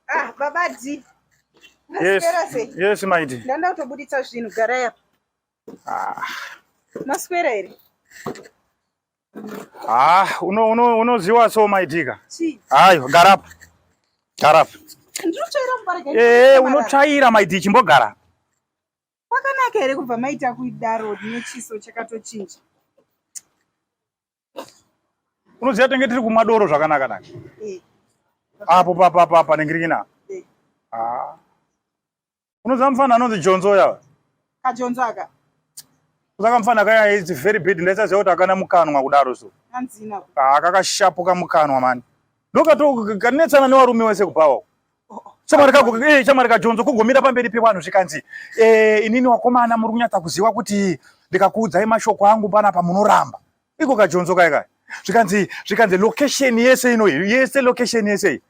Ah, baba D. Yes. Yes, my D. Ndanda utobuditsa zvinhu gara yapa. Ah. Maswera here? Ah, uno uno unoziwa so my D ka. Chi. Ayo, gara apa. Gara apa. Ndinotsvaira mubarika. Eh, unotsvaira my D chimbogara. Kwakanaka here kubva maita kuidaro nechiso chakatochinja. unoziva tenge tiri kumwa doro zvakanaka naka eh. apo papapa panengirikina eh. ah. unoziva mufana anonzi jonzo yava kajonzo aka saka mufana kaya is very bad ndaisaziva kuti akana mukanwa kudaro so ah, kakashapuka mukanwa mani ndokatokanetsana newarume wese kubhawa shamwari kako eh shamwari kajonzo kugomira pamberi pevanhu zvikanzi eh inini wakomana muri kunyatsa kuziva kuti ndikakuudzai mashoko angu pana pamunoramba iko kajonzo kai kai zvikanzi zvikanzi location yese ino yese location yese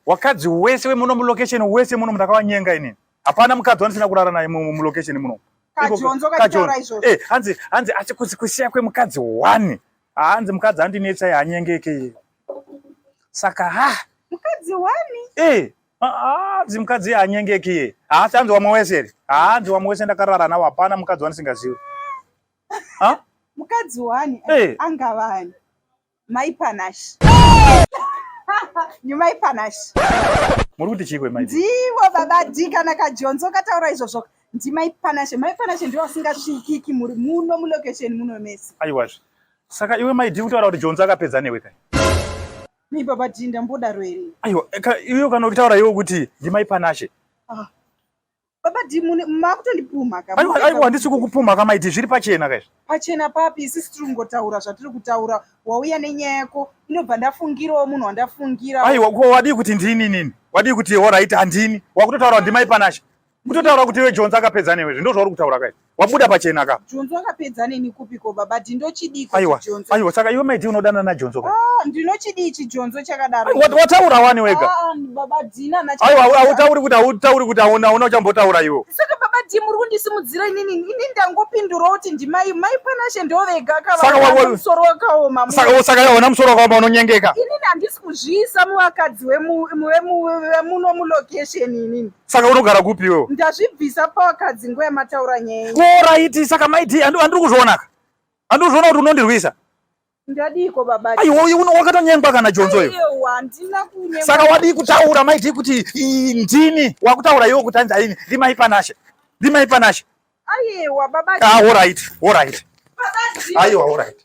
wakadzi wese wemuno mulocation wese muno ndakawanyenga inini hapana mukadzi wandisina kurara naye mulocation muno kajonzo kachora izvo eh hanzi hanzi asi kusiya kwemukadzi one hanzi mukadzi andinetsa yanyengeke iye saka ha mukadzi wani eh hanzi mukadzi anyengeki iye haasi hanzi wamwe wese here hanzi wamwe wese ndakarara nawo hapana mukadzi wandisingazivi mukadzi wani eh. angavani mai panashi nyumai panashi muri kuti chikwe mai ndivo baba d kana kajonzo kataura izvozvo ndimai panashe mai panashe ndivo vasingasvikiki muri muno mulocation muno mese aiwazve Saka iwe mai dii kutaura kuti Jonzi akapedza newe kai? Nei baba dii ndambodaro here? Aiwa, iwe kana ukitaura iwe kuti ndimai Panashe. Ah. Baba dii mune makutondipumha ka. Aiwa, aiwa handisi kukupumha ka mai dii zviri pachena kai. Pachena papi isisi tiri kungotaura zvatiri kutaura wauya nenyaya yako inobva ndafungirawo munhu wandafungira. Aiwa, ko wadii kuti ndini nini? Wadii kuti all right handini? Wakutotaura kuti ndimai Panashe. Kutotaura kuti iwe Jonza akapedza newe zvindo zvauri kutaura kai. Wabuda pachena ka. Jonzo akapedza neni kupi ko baba ndinochidii ko Aiwa. Jonzo. Aiwa saka iwe maiti unodana na Jonzo ka. Ah ndinochidii chi Jonzo chakadaro. Aiwa, wat- Wataura wani wega. Ah baba Dina na Aiwa au- hautauri kuti hautauri kuti hauna hauna uchambotaura iwe. Saka baba Dina muri kundisimudzira inini ini ndangopindura kuti ndimai mai panashe ndovega Saka wa- wa- kava musoro wakaoma. mu- Saka wo- saka yaona musoro wakaoma unonyengeka. Inini handisi kuzviisa muvakadzi wemu wemu wemuno mu location inini. saka unogara kupi iwewe ndazvibvisa pavakadzi nguva yamataura nyaya oraiti saka maiti andiri kuzvionaka andiri kuzviona kuti unondirwisa ndadiiko baba aiwa wakatonyengwa kana jonzo iyo saka wadii kutaura maiti kuti ndini wakutaura iwe kuti anzi aini rimai panashe rimai panashe aiwa baba ah, oraiti oraiti aiwa oraiti